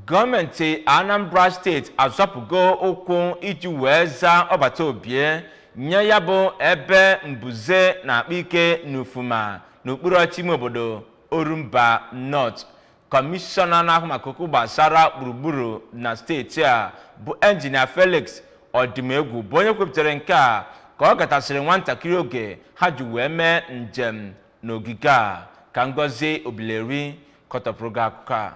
gọọmenti anambra steeti azọpụgo ụkwụ iji wee zaa ọbata obie nye ya bụ ebe mbuze na-akpa ike n'ufuma n'okpuru ọchịchị ime obodo orumba north kọmishọna na-ahụ maka okwu gbasara gburugburu na steeti a bụ enjinia felix odimegwu bụ onye kwupụtara nke a ka ọ gatasịrị nwantakịrị oge ha ji wee mee njem n'ogige a ka Ngozi Obileri kọtọpụrụ gị akụkọ a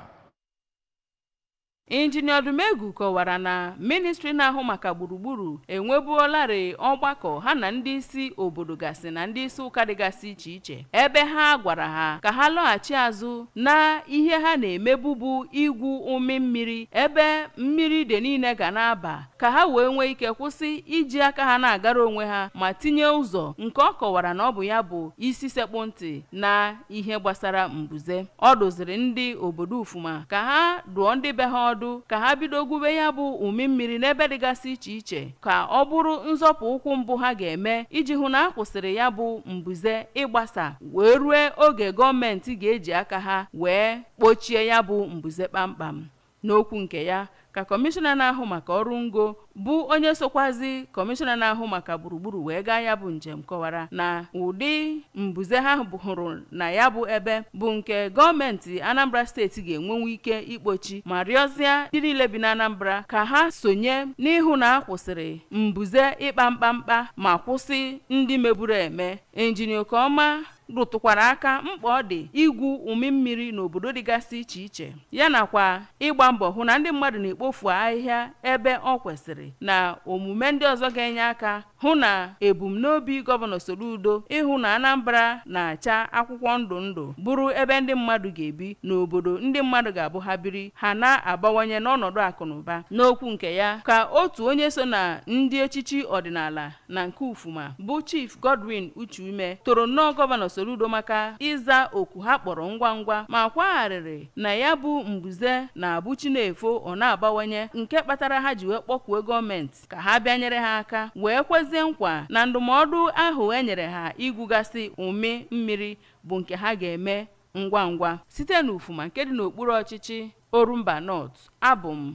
injinia Odimegwu kọwara na ministri na-ahụ maka gburugburu enwebuolarị ọgbakọ ha na ndị isi obodo gasị na ndị isi ụka dịgasị iche iche ebe ha gwara ha ka ha lọghachi azụ na ihe ha na-emebu bụ igwu ụmị mmiri ebe mmiri ide niile ga na-aba ka ha wee nwee ike kwụsị iji aka ha na-agara onwe ha ma tinye ụzọ nke ọ kọwara na ọ bụ ya bụ isi sekpụ ntị na ihe gbasara mbuze ọ dụziri ndị obodo ufuma ka ha dụọ ndị be ha ọdụ ka ha bido gwube ya bụ ụmị mmiri n'ebe dịgasị iche iche ka ọ bụrụ nzọpụ ụkwụ mbụ ha ga-eme iji hụ na a kwụsịrị ya bụ mbuze ịgbasa wee rue oge gọọmenti ga-eji aka ha wee kpochie ya bụ mbuze kpamkpam N'okwu nke ya, ka Kọmishọna na-ahụ maka ọrụ ngo bụ onye sokwazi Kọmishọna na-ahụ maka gburugburu wee gaa ya bụ njem kọwara na ụdị mbuze ha hụrụ na ya bụ ebe bụ nke gọọmenti Anambra steeti ga-enwenwu ike ikpochi ma rịọzịa ndị niile bi n'Anambra ka ha sonye n'ịhụ na a kwụsịrị mbuze ịkpa mkpamkpa ma kwụsị ndị meburu eme. Injinia Okoma rụtụkwara aka mkpa ọ dị igwu ụmị mmiri n'obodo dịgasị iche iche ya nakwa ịgba mbọ hụ na ndị mmadụ na-ekpofu ahịhịa ebe ọ kwesịrị na omume ndị ọzọ ga-enye aka hụ na ebumnobi gọvanọ Soludo ịhụ na Anambra na-acha akwụkwọ ndụ ndụ bụrụ ebe ndị mmadụ ga-ebi n'obodo ndị mmadụ ga-abụ ha biri ha na-abawanye n'ọnọdụ akụ na ụba n'okwu nke ya ka otu onye so na ndị echichi ọdịnala na nke Ufuma bụ Chief Godwin Uchime toro nnọọ Gọvanọ Soludo maka ịza oku ha kpọrọ ngwa ngwa ma kwaa arịrị na ya bụ mbuze na-abụ chi na-efo ọ na-abawanye nke kpatara ha ji wee kpọkue gọọmenti ka ha bịa nyere ha aka wee kwezie nkwa na ndụmọdụ ahụ e nyere ha igwugasị ụmị mmiri bụ nke ha ga-eme ngwa ngwa site n'Ufuma nke dị n'okpuru ọchịchị Orumba North abụ m